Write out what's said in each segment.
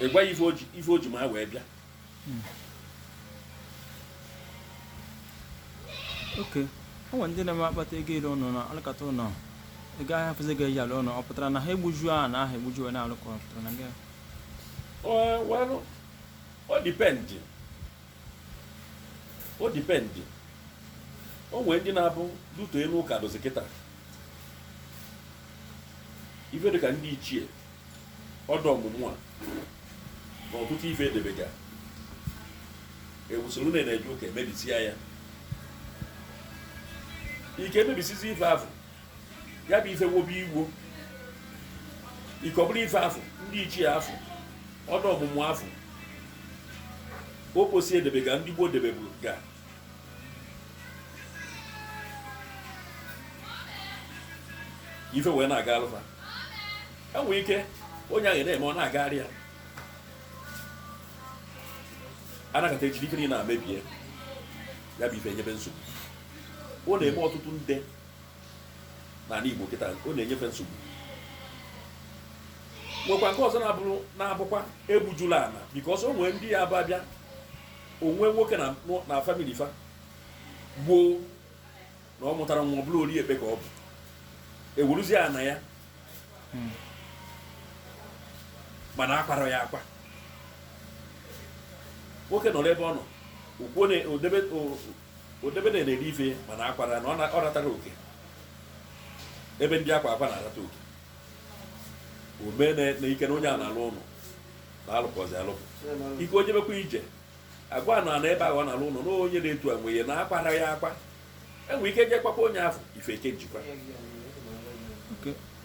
ị gwa ya ife o ji- ife o ji ma wee bịa okay o nwere ndị na-eme akpata ego ere ụlọ na alụkata ụlọ a gaha afụzi ego eji alụ ụlọ ọ pụtara na ha egbuju ana ahụ egbuju wee na-alụ ka ọ pụtara na gị Ọ- well, ọ depend ọ depend o nwee ndị na-abụ due to enu ụka dụzi kịta ife dịka ndị ichie ọda ọmụmụ a na ọtụtụ ife edebega ewusoro na a na-eje ụka emebisia ya ike emebisizi ife ahụ ya bụ ife wobe igbo ikọbụrụ ife afụ ndị ichie afụ ọda ọmụmụ afụ okposi edebega ndị gboo debebuga ife wee na-agalụ fa enwee ike onye ahụ na-eme ọ na-agara ya anọkata ejiri ike niile na-emebie ya bụ ife nyebe nsogbu ọ na-eme ọtụtụ nde n'ana Igbo kịta ọ na-enye fa nsogbu nwekwa nke ọzọ na-abụ na-abụkwa egbujula ana because o nwee ndị ya bụ abịa o nwee nwoke na family fa gboo na ọ mụtara nwa ọ bụrụ ori ekpe ka ọ bụ eweruzie ana ya hmm. mana akwara ya akwa nwoke nọrọ ebe ọ nọ okwuo na odebe Odebe na-eri ife mana akwara na ọ ratara oke ebe ndị akwa akwa na-arata oke o mee na ike na onye a na-alụ ụlọ na-alụpụzi alụpụ ike o jebekwa ije agwa ya na ana ebe ahụ ọ na-alụ ụlọ na onye na-etu enwe ya na akwara ya akwa enwe ike jekwakwa onye afụ ife eke njikwa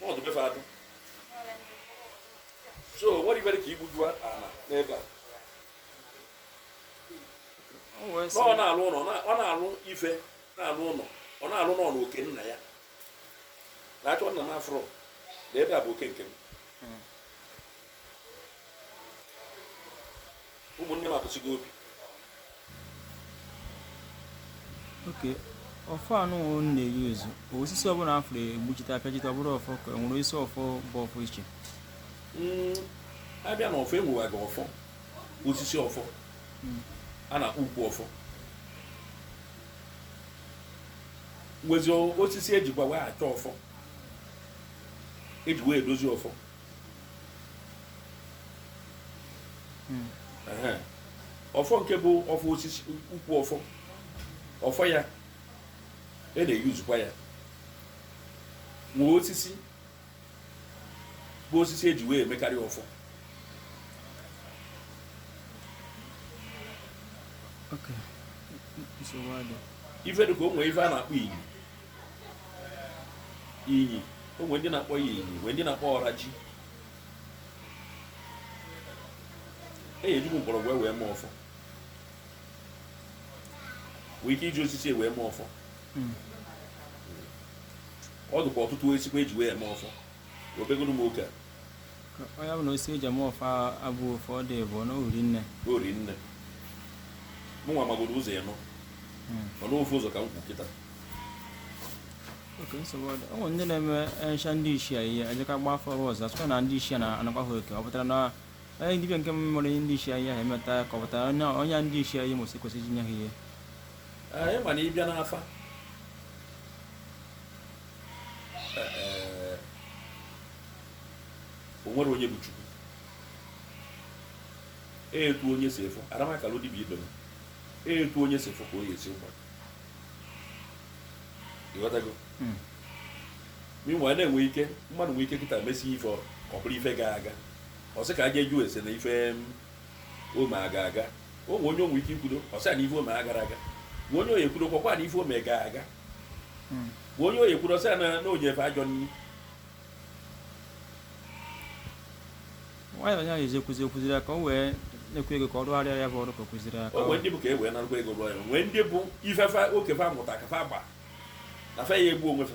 n'ọdụ befe adụ so nwere ibere ka igbuju ana n'ebe a ọ na-alụ ụlọ ọ na-alụ ife na-alụ ụlọ ọ na-alụ nọ na oke nna ya na-achọ nna m afụrụ na ebe a bụ oke nke m ụmụnne m apụsigo obi okay ọfọ anụ m na-eyi ọ bụzi osisi ọbụla a fụrụ egbuchite apịachite ọ bụrụ ọfọ ka e nwere isi ọfọ bụ ọfọ iche hmm, abịa na ọfọ e nwebaga ọfọ osisi ọfọ hmm. a na-akpọ ukwu ọfọ nwezi osisi ejikwa wee achọ ọfọ eji wee edozi ọfọ ọfọ nke bụ ọfọ osisi ukwu ọfọ ọfọ ya e na-eyuzukwa ya nwee osisi bụ osisi eji wee emekarị ọfọ ife dị ka o nwee ife a na-akpọ iyi inyi o nwere ndị na-akpọ ya inyi nwere ndị na-akpọ ọra ji e jikwu mgbọrọgwụ wee mee ọfọ nwee ike iji osisi wee mee ọfọ hmm. ọ dụkwa ọtụtụ esikwa eji wee mee ọfọ obegoro m oge a ọ ya bụ na osisi eji eme ọfọ abụ ofe ọ dị bụ na uri nne uri nne mụ nwa magoro ụzọ ịnụ hmm. mana ofu ụzọ ka m kwu kịta oke nsogbu ọ dị ọ ndị na-eme ncha ndị ichie ihe ejeka gba afa ọzọ a sịkwa na ndị ichie na-anakwa ha oke ọ pụtara na onye dibịa nke mmụrụ ihe ndị ichie ihe ahụ emeta ka ọ pụtara onye ndị ichie ihe mụsị kwesịrị inye ha ihe ị ma na ị bịa n'afa o nwere onye bụ chukwu etu onye si efo aramakala dibịa ibe m etu onye si efo ka onye si agba ị ghọtago hmm. mụ nwa na-enwe ike mmadụ nwee ike kịta mesie ife ọ bụrụ ife ga aga ọ sị ka a ga-ajụ ese na ife o me aga aga o nwe onye nwe ike ikwudo ọ sị na ife o me agara aga nwe onye onye ekwudo kwakwa na ife o me ga aga bụ onye oyi kwuru ọsọ na na ojefe ajọ nri nwayọ ya ezi ekwuzi ekwuziri ya ka o wee na-ekwu ego ka ọ rụgharịa ya bụ ọrụ ka o kwuziri ya ka o nwee ndị bụ ka e wee narụkwa ego rụọ ya nwee ndị bụ ifefe okefe amụta ka fe agba na fe ya egbu onwe fe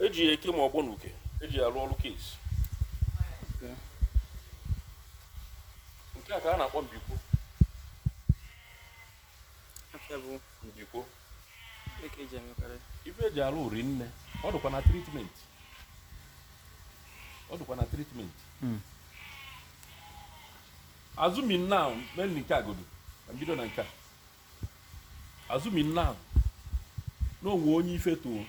eji ya eke ma ọgbọ na uke eji ya arụ ọrụ case nke a ka a na-akpọ mbikwo Afịa bụ mbikwo ihe ka eji emekarị. ife eji arụ uri nne ọ dịkwa na treatment ọ dịkwa na treatment assuming now mainly nke a godu na mbido na nke a assuming now na o nwe onye ife too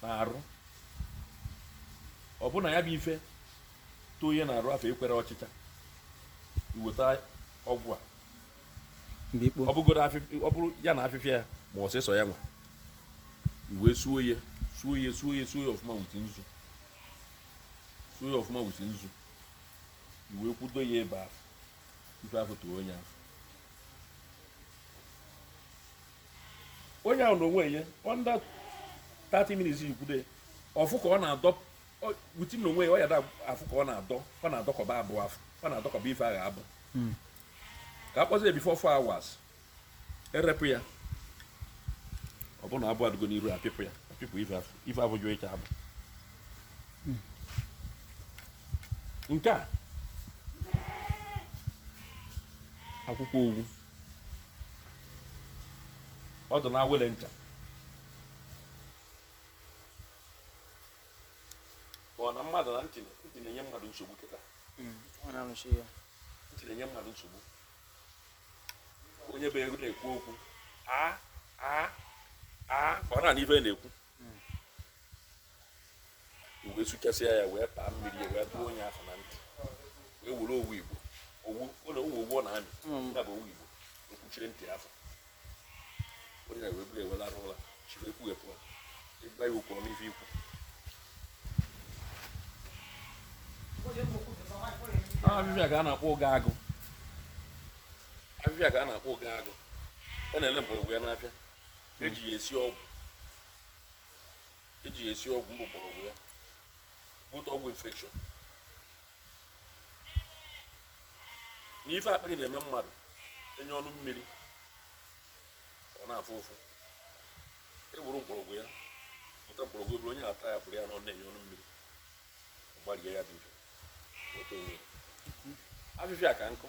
n'arụ ọ bụ na ya bụ ife too onye n'arụ afụ ekwerọ ọchịcha i weta ọgwụ a ọ bụgoro ọ bụrụ ya na afịfịa ya ma osisi ya nwa i wee suo ya suo ya suo ya suo ya ọfụma with nzu suo ya ọfụma with nzu i wee kwudo ya ebe ahụ ife afụ tuo onye ahụ onye ahụ na onwe ya under 30 minutes ikwude ọ fụ ka ọ na-adọ wuti na onwe ya ọ ya-afụ ka ọ na-adọ ọ na-adọkọba abụ afụ ọ na-adọkọba ife ahụ abụ ka a kpọzie before 4 hours erepụ ya ọ bụrụ na abụ adịgo n'iru apịpụ ya apịpụ ife afụ ife afụ jụọ ịcha abụ nke a akwụkwọ owu ọ dị n'awele nke a ọ na mmadụ na ntị na-enye mmadụ nsogbu kịta ntị na-enye mmadụ nsogbu onye bụ ego na-ekwu okwu a a a ka ọ na-anụ ife na-ekwu wee sụchasịa ya wee taa mmiri wee tụọ onye afụ na ntị wee were owu igbo owu ọ na owu owu ọ na-amị ya bụ owu igbo o kpuchiri ntị afụ onye wee bụrụ e wee larụ ụla chiri ekwughepụ ị gwa ya okwu ọ nụ ife i kwu afịfịa ka a na-akpọ oge agụ afịfịa ka a na-akpọ oge agụ a na-ele mgbọrọgwụ ya n'afịa e ji ya esi ọgwụ e ji ya esi ọgwụ mgbọrọgwụ ya both ọgwụ infection na ife akpịrị na-eme mmadụ enye ọnụ mmiri ọ na-afụ ụfụ e gwuru mgbọrọgwụ ya pụta mgbọrọgwụ eburu onye ata ya pụrụ ya na ọ na-enye ọnụ mmiri gbarie ya dị mfe afịfịa ka nkụ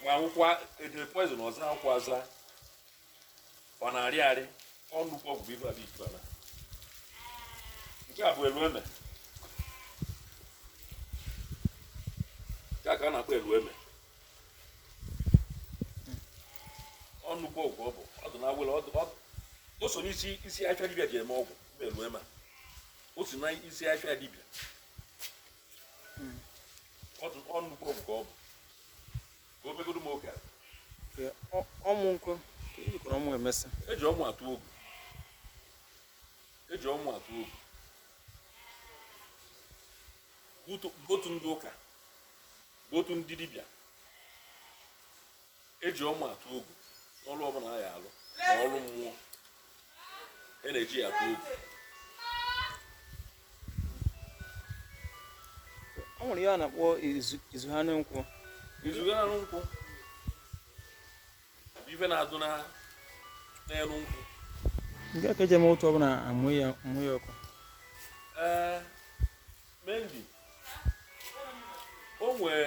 nwa akwụkwọ edere poison ọ zọ ya ụkwụ aza ọ na-arị arị ọ nnukwu ọgwụ ibe abịa ikpe ala nke a bụ elu eme ya ka a na-akpọ elu eme ọ nnukwu ọgwụ ọ bụ ọ dị na awele ọ dị ọ o so n'isi isi afịa dibịa ji eme ọgwụ bụ elu eme o so na isi afịa dibịa ọnụkọ nke ọ bụ ka o begoro m oge a ọmụ nkwụ ejikọrọ ọmụ emesa e ji ọmụ atụ ogu e ji ọmụ atụ ogu both ndị ụka both ndị dibịa eji ọma atụ ogu n'ọrụ ọbụla a ya alụ ma ọrụ mmụọ e na-eji ya atụ ogu ọ nwere ihe a na-akpọ izu ha nkwụ izu ha nkwụ ife na-adụ n'elu nkwụ nke ka eji eme otu ọbụla amụ ya ọkụ ee mendi o nwee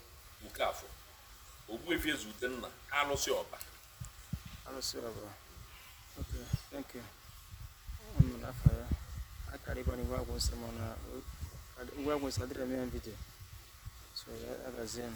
Okafọ Ogbuefi Eze Udenna alụsị ọba alụsị ọba okay thank you ọmụrụ afọ ya akarị ka ngwa agwụ nsọ mana igwe agwụ nsọ adịrị m ya vidio so ya agazie m